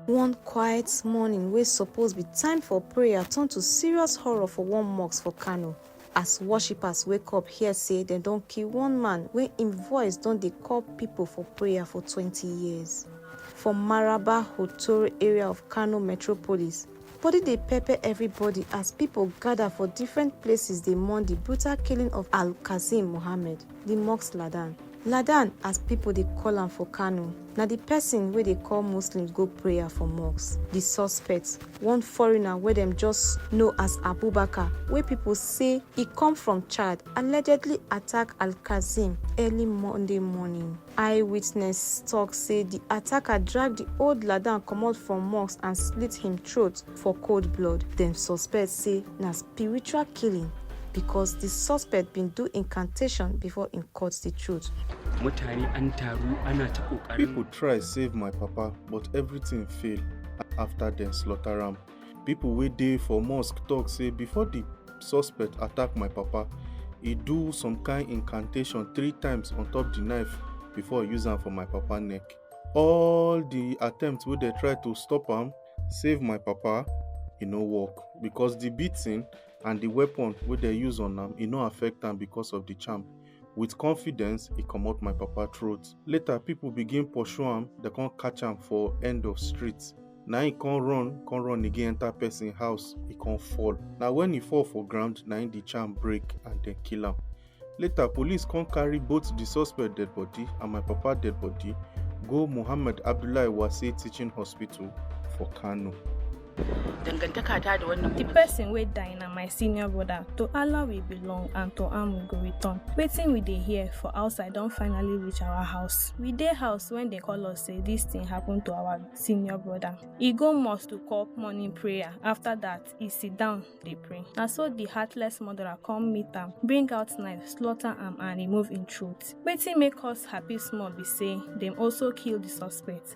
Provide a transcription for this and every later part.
One quiet morning wey suppose be time for prayer turn to serious horror for one mosque for Kano as worshippers wake up hear say dem don kill one man wey im voice don dey call people for prayer for 20 years. For Maraba Hotoro area of Kano metropolis, Body dey pepper everybody as pipo gada for different places dey mourn di brutal killing of Al-Qassim Mohammed, di Musk Ladan. Ladan as pipo dey call am for Kano, na di pesin wey dey call Muslims go prayer for mosque. Di suspect, one foreigner wey dem just know as Abubakar, wey pipo say e come from Chad, allegedly attack Al-Qassim early Monday morning. Eye witness tok say di attacker drag di old ladan comot from mosque and slit him throat for cold blood. Dem suspect say na spiritual killing because di suspect bin do incantation before im cut di throat. mutane an taru ana ta kokarin People try save my papa but everything fail after dem slaughter am. pipo wey dey for mosque tok say before di suspect attack my papa e do some kain incantation three times on top di knife before e use am for my papa neck all di attempts wey dem try to stop am save my papa e no work becos di beating and di weapon wey dem use on am e no affect am becos of di charm With confidence, e comot my papa throat. Later, people begin pursue am, dem come catch am for end of street. Na im come run, come run again enter person house, e come fall. Na when e fall for ground, na im the charm break and dem kill am. Later, police come carry both the suspect dead body and my papa dead body go Muhammad Abdullahi Wase Teaching Hospital for Kano. dangantaka ta da wannan the person wey die na my senior brother to allah we belong and to am we go return wetin we dey hear for outside don finally reach our house we dey house when dem call us say this thing happen to our senior brother e go mosque to call morning prayer after that e sit down dey pray na so the heartless murderer come meet am bring out knife slaughter am and remove im throat wetin make us happy small be say dem also kill the suspect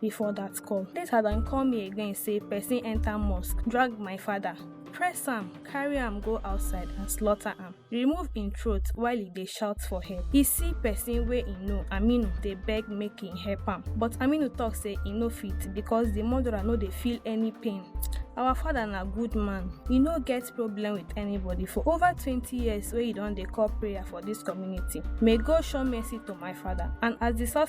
before dat call later dem call me again say person enter mosque drag my father press am carry am go outside and slaughter am remove im throat while e dey shout for help e see person wey e know aminu dey beg make im help am but aminu talk say e no fit because di murderer no dey feel any pain our father na good man e no get problem with anybody for over twenty years wey e don dey call prayer for dis community may god show mercy to my father and as di suspect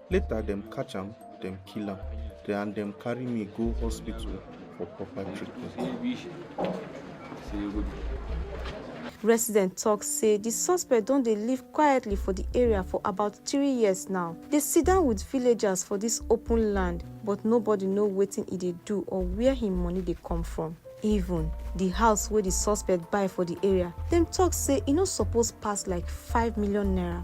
later dem catch am dem kill am then and dem carry me go hospital for proper treatment. residents tok say di suspect don dey live quietly for di area for about three years now dey sidon wit villagers for dis open land but nobody know wetin e dey do or wia im money dey come from even di house wey di suspect buy for di area dem tok say e no suppose pass like five million naira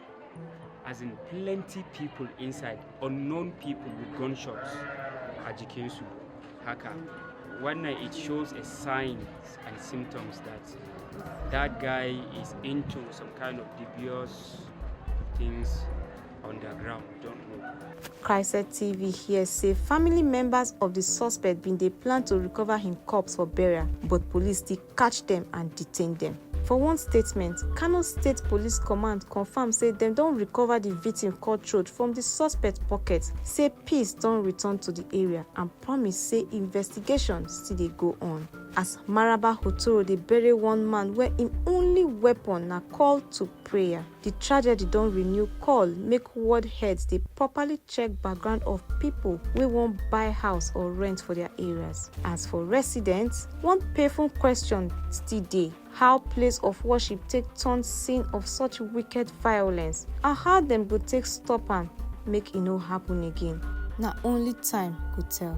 as in plenty people inside unknown people with gunshots a jikinsu haka wannan it shows a signs and symptoms that that guy is into some kind of dubious things on the ground we don't know Chrysler TV here say family members of the suspect bin dey plan to recover him corpse for burial, but police still catch dem and detain dem. For one statement, Kano State Police Command confam say dem don recover di victim cut throat from di suspect pocket, say peace don return to di area and promise say investigation still dey go on. As Maraba Hotoro dey bury one man wey im only weapon na call to prayer. Di tragedy don renew call make ward heads dey properly check background of pipo wey wan buy house or rent for dia areas. As for residents, one painful question still dey, how place of worship take turn scene of such wicked violence and how dem go take stop am make e no happun again, na only time go tell.